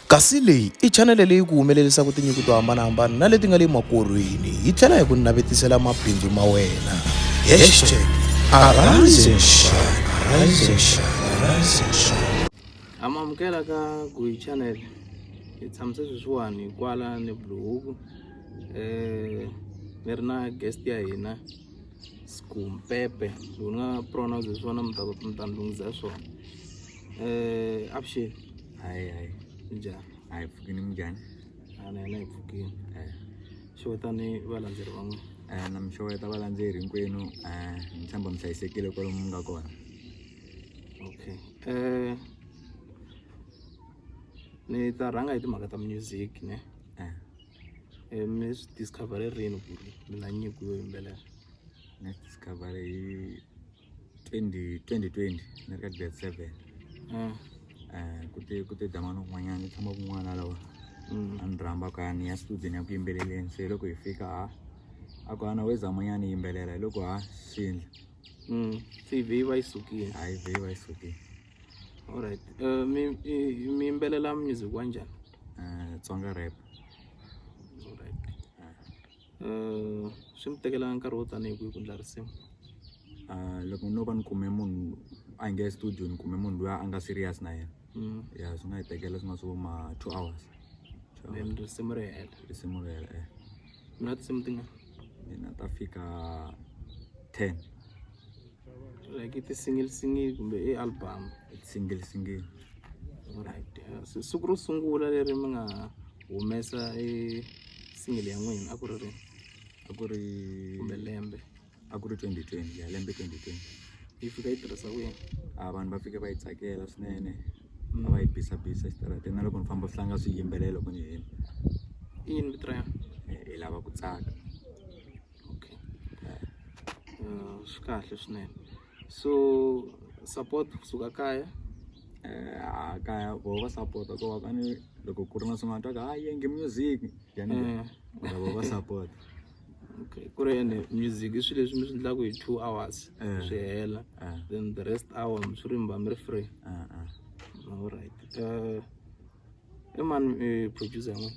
Kasi leyi i chanele leyi ku humelelisaka tinyiko to hambanahambana na leti nga le makorhweni hi tlhela hi ku navetisela mabindzu ma wena. Hashtag Arise and Shine, Arise and Shine, Arise and Shine. Ha mi amukela ka Guy Channel. Hi tshamise sweswiwani kwala ni Bluehook. Eh mi ri na guest ya hina Skumpepe. Loko ni nga pronounce hi swona mi ta mi ta ni lunghisa swona. Eh, abshir hayi hayi njhani a hi pfukini munjhani a na hina hi pfukile Eh, xewetani valandzeri van'we eh, na mi xeweta valandzeri hinkwenu eh, ni tshemba mi hlayisekile kwalomu mi nga kona okay eh ni ta rhanga hi timhaka ta music ne Eh, Eh, mi swi discover rini ku ri mi na nyiko yo yimbelela ni discover hi 2020 ni ri ka grade seven um ku te ku te damani un'wanyana ni tshama kun'wana lawa mm. a ni rhamba ka ni ya studieni ya ku yimbeleleni se loko hi fika ha a ku ana wezamanyana yimbelela hi loko ha xindla mm. se yi vhe yi va yi sukile ha yi vhe yi va yi sukile allright eh, mi yimbelela music wa njhani eh, tsonga rap swi mi tekela nkarhi wo tanihi kwihi ku endla risimu loko no va ni kume munhu a hi nge studio ni kume munhu loyi a nga serious na yena ya swi nga hi tekela swi nga swi vo ma two hours then risimu ri hela risimu ri hela eh mi na tinsimu tingani ni na ta fika ten like ti-single single kumbe i album single single right siku ro sungula leri mi nga humesa e single ya n'wina a ku ri ri a ku ri kumbe lembe a ku ri 2020 ya lembe 2020 yi fika yi tirhisa ku yini a vanhu va fike va yi tsakela swinene mm. a va yi bisa bisa exitarateni na loko ni famba swi tlanga swi yimbelela loko ni hina iyini vito ra yona hi lava ku tsaka okay uh, swi kahle swinene so support kusuka kaya eh, a kaya voho va sapota ko va kani loko ku ri na swin'wana twa ka ha yengi music yani Eh. mara voho va sapota okay ku ri ene music i swilo leswi mi swi endlaka hi two hours Eh. swi hela Ah, then the rest hour mi swi rimba mi ri free ah, ah. alright uh, i mani eh, producer yan'wana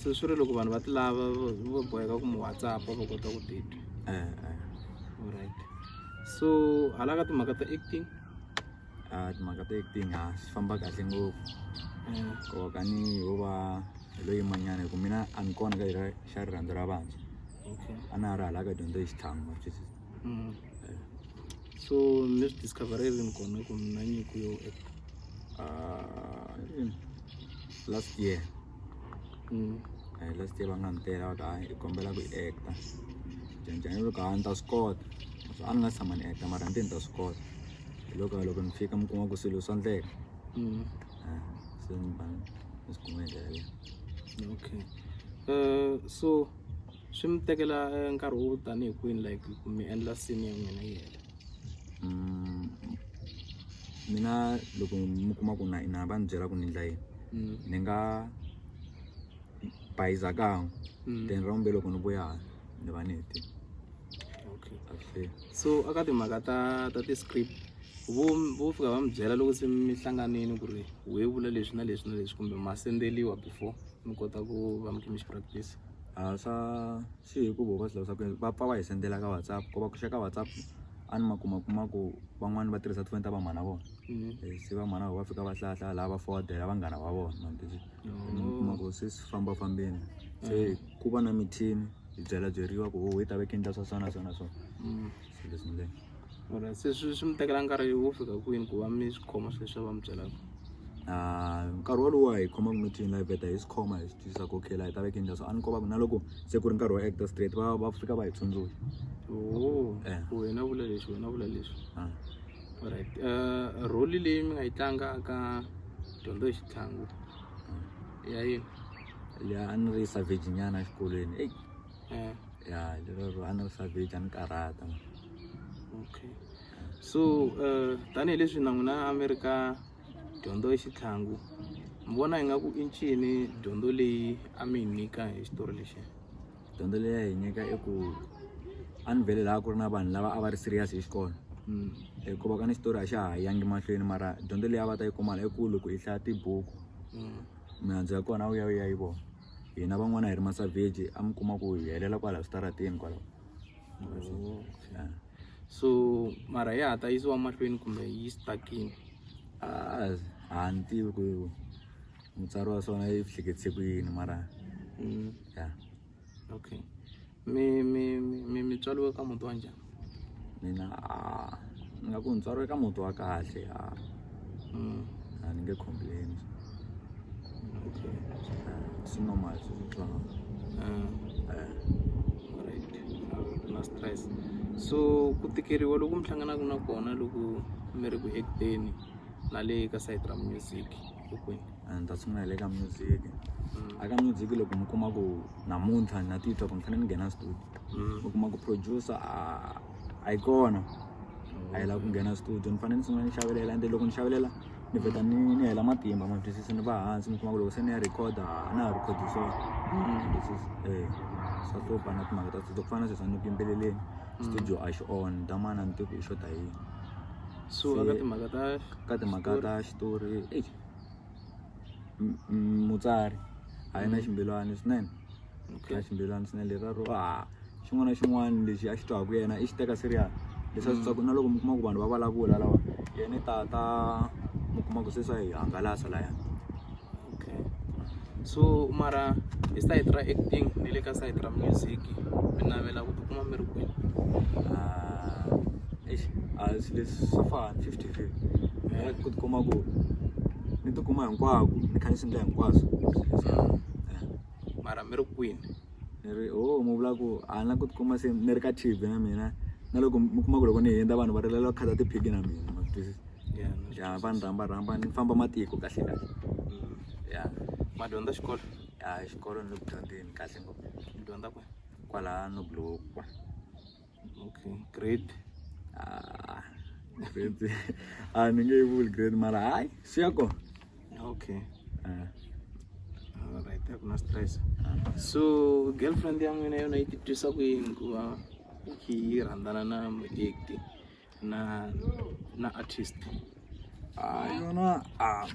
se swi ri loko vanhu va ti lava vo boheka ku mi whatsapp va kota ku titwa alright so hala ka timhaka ta acting timhaka ta acting a swi famba kahle ngopfu ko kani ho va hi lo yimanyana hi ku mina a ni kona ka ira xa rirhandzu ra vantshwa a na ha ri hala ka dyondzo hi xitlhangu ma twisisa so mi swi discover rini kona ku mi na nyiko yo actor last year mm. eh, last year va nga ni tela va ta hi kombela ku actor janjani loko a ni ta swi kota so a ni nga tshama ni actor mara ni te ni ta swi kota hi loko loko ni fika mi kuma ku swilo swa ndleka mm. eh, se ni ba ni swi kuma hi ndlela leyi okay uh, so swi mi tekela eh, nkarhi wo tanihi kwini like ku mi endla sini ya n'wina yi hela mina loko mi kuma ku na na va ni byela ku ni endla yini mm. ni nga bayiza kan'we mm. then ra vumbe loko ni vuya ni va ni hetile okay so aka timhaka ta ta ti-script vo vo fika va mi byela loko se mi hlanganile ku ri we vula leswi na leswi na leswi kumbe ma sendeliwa before mi kota ku va mi khe mi xi practice a swa swi ya hi ku voho va swi lavisa ku yini va pfa va hi sendela ka WhatsApp ku va ku xa ka WhatsApp a ni ma kuma kuma ku van'wani va tirhisa tifoni ta vamhana vona se vamhana vona va fika va hlaya hlaya laha va forward-ela vanghana va vona ma tivi mi kuma ku se swi famba fambeni se ku va na mithini hi byela byeriwa ku ho hi ta veke ni ta swa so na so na so se leswi . mara se swi swi mi tekela nkarhi wo fika kwini ku va mi swi khoma swilo leswi a va mi byelaka Ah, nkarhi wolowo a hi khoma ku meeting live beta hi swi khoma hi swi twisisa ku okay la hi ta veka njhani so a ni komba ku na loko se ku ri nkarhi wo actor straight va va fika va hi tsundzuxa oo Eh. ku wena vula leswi wena vula leswi Ah. alright uh, role leyi mi nga yi tlanga ka dyondzo hi xitlhangu ya yini leyi a ni ri savage nyana exikolweni eyi eh. ya lero a ni ri savage a ni karhata okay so uh, tanihileswi na n'wina amerika dyondzo i xitlhangu mi vona ingaku i ncini dyondzo leyi a mi yi nyika hi xitori lexi dyondzo leyi a yi nyika i ku a ni vele laha ku ri na vanhu lava a va ri serious hi xikolo hmm. hikuva ka ni xitori a xa ha yangi mahlweni mara dyondzo leyi a va ta yi kumala i ku loko i hlaya tibuku hmm. mihandzu ya kona a wu ya u ya yi vona hina van'wana hi ri masavheji a mi kuma ku hi helela kwala switarateni kwala Yeah. so mara ya ha ta yisiwa mahlweni kumbe yi stakini Ah, a ni tivi ku mutsari wa swona yi hleketse ku yini mara Mm, ya okay mi mi mi mi mi tswariwe ka muti wa njhani mina a ni nga ku ni tswariwe ka muti wa kahle a Mm, a ni nge complain okay swi normal swi swi fana Ah, Eh, alright. A ku na stress so ku tikeriwa loku mi hlanganaka na kona loko mi ri ku acteni na le ka side ra music and that's why le ka music a ka music loko mi kuma ku namuntlha na titwa ku ni fanele ni nghena studio mm. mi kuma ku producer a yi kona a yi lava ku nghena studio ni fanele ni sungula ni xavelela ende loko ni xavelela ni vheta ni ni hela matimba ma twisisa ni va hansi mi kuma ku loko se ni ya recorda a na ha recordi so mm. eh, swa hlupha na timhaka ta studio ku fana na sweswa ni ku yimbeleleni mm. studio a xi on damana ni tiku i xota yini so ka timhaka ta ka timhaka ta xitori eyi mutsari a yi na mm. ximbilwani swinene na ximbilwani swinene leraro a ah, xin'wana na xin'wana lexi a xi twaku yena i xi teka serial leswi a swi twaku mm. na loko mi kuma ku vanhu va vulavula lawa yena i tata mi kuma ku se swa hi hangalasa laya okay so mara hi side ra acting ni le ka side ra music mi navela ku tikuma mi ri kwihi eish a swi leswi swo fana fifty fifty mina ku tikuma ku ni tikuma hinkwako ni kha ni swi endla hinkwaswo mara mi ri kwini ni ri ho mi vula ku a ni la ku tikuma se ni ri ka T_V na mina na loko mi kuma ku loko ni hundza vanhu va rilela ku khata ti-pic na mina ma swi twisisa. Yeah, na swi ya va ni rhamba rhamba ni famba matiko kahle kahle Mm. ya ma dyondza xikolo ya xikolo ni le ku dyondzeni kahle ngopfu mi dyondza kwe kwala noblokwa okay grade Ah, grade a ni nge yi vuli grade mara hayi swi ya kona okay Ah, alright a ku na stress ah. so girlfriend ya n'wina yona yi titwisa ku yini ku va yi rhandzana na muekti na na artist ah yona ah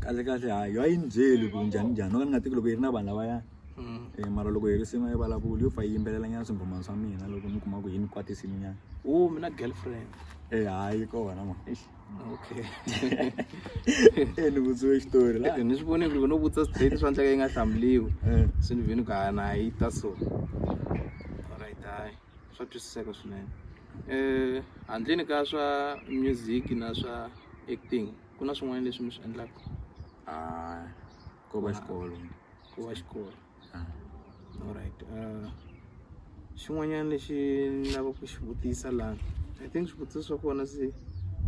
kahle kahle ha yo a yi ni byeli ku njhani njhani no ka ni nga tivi loko yi ri na vanhu lavaya Mm. Eh, mara loko hi ri sin'we yi vulavuli yo fa yi yimbelela nyana swimbhomani swa mina loko mi kuma ku yi ni kwatisini nyana Oh, mina girlfriend. e hayi kona ma Eish. Okay. e ni vutsiwe xitori la Ni swi vone ku ri no vutisa straight swa ndleka yi nga hlamuriwi. Eh. Se ni vini ku ha na yi ta so. Alright, hayi. swa twisiseka swinene handleni ka swa music na swa acting ku na swin'wana leswi mi swi endlaka ko va xikolo ko va xikolo alright uh, xin'wanyana lexi ni lava ku xi vutisa laha i think swivutiso swa kona se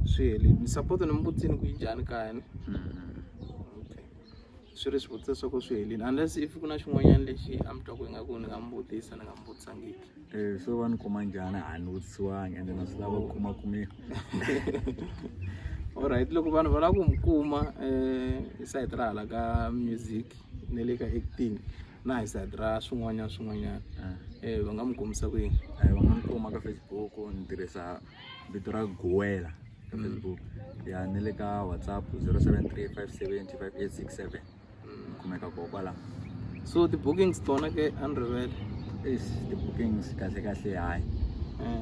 swi helile ni support ni mi vutini ku yi njhani kaya ni swi ri swivutiso swa ku swi helile unless if ku na xin'wanyana lexi a mi twa ku ingaku ni nga mi vutisa ni nga mi vutisangiki Eh, so va ni kuma njhani a ni vutisiwangi ende na swi lava ku kuma kumeka alright loko vanhu va lava ku mi kuma um hi sayiti ra hala ka music ne le ka acting na hi sayiti ra swin'wanyana swin'wanyana um eh. eh, va nga mi kumisa ku yini eh, va nga mi kuma ka facebook ni tirhisa vito ra gowela ka mm. facebook ya ni le ka whatsapp zero seven three five seventy five eight six seven ni kumeka ko kwala so ti-bookings tona ke a ni rivele is ti-bookings kahle kahle hayi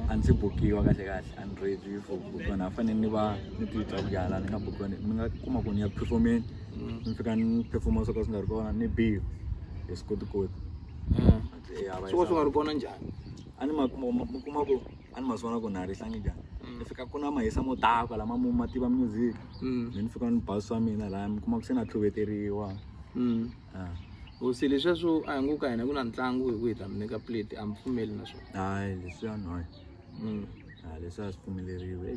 a ndzi bukiwa kahle kahle a ni ready for bukiwana a fanele ni va ni titwa kuyala ni nga bukiwa ni nga kuma ku ni ya performeni ni fika ni performa swo ka swi nga ri kona ni biwa hi swi kotikoti swi va swi nga ri kona njhani a ni ma kuma ma kuma ku a ni ma swi vona ku na ha rihlangi njhani ni fika ku na mahisa mo daka lama mo ma tiva music me ni fika ni ba swa mina laya mi kuma ku se na tlhuveteriwa hosi leswiya swo a hi ngo ka hina ku na ntlangu hi ku hi ta mi nyika plate a mi pfumeli na swona hayi leswiya no hayi a leswiya swi pfumeleriwe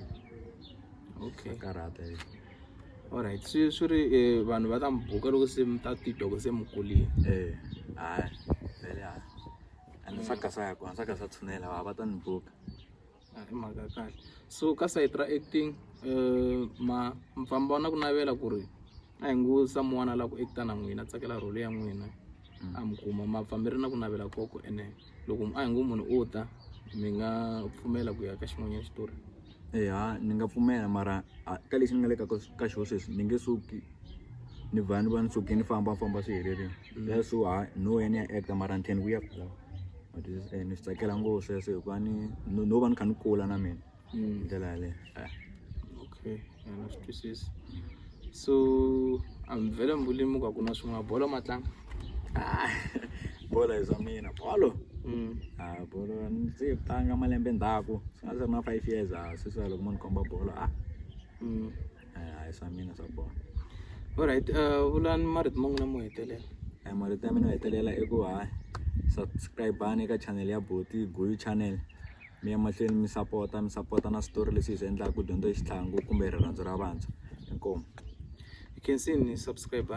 okay karhata hi alright swi swi ri vanhu va ta mi buka loko se mi ta titwa ku se mi kulile eh hayi vele hayi and swa mm. gasa ya kona swa gasa tshunela va va ta ni buka a hi mhaka ya kahle so ka sayiti ra acting um ma mfamba wa na ku navela ku ri a hi ngo samuwana la ku acta na n'wina a tsakela role ya n'wina mm. a mi kuma mapfambi ri na ku navela koko ene loko a hi ngo munhu o ta mi nga pfumela ku ya ka xin'wanyana xitori eya ni nga pfumela mara ka lexi ni nga le ka ka xona sweswi ni nge suki ni va ni va ni suke ni fambafamba swi helerile ya so ha no ya ni ya act mara ni tlhela ni vuya kwala ma twisisa ene ni swi tsakela ngopfu sweswo hikuva ni no no va ni kha ni kula na mina hi ndlela yaleyo okay ya na swi twisisa so a mi vhela mi vuli muka ku na swin'wana bolo ma tlanga. Ah, bolo hi swa mina bolo Mm. ah bolo a ni se tlanga malembe ndzhaku swi nga se ri na five years a sweswi loko mo ni komba bolo ah Mm. eh, a hi swa mina swa bolo Alright, uh, vulani marito ma n'wina mo hetelela. Eh, marito ya mina yo hetelela i ku ha subscribe-ani eka channel ya boti guyu channel mi ya mahlweni mi sapota mi sapota na switori leswi hi swi endlaka ku dyondzo hi xitlhangu kumbe rirhandzu ra vantshwa inkomu Hi khensini subscribe.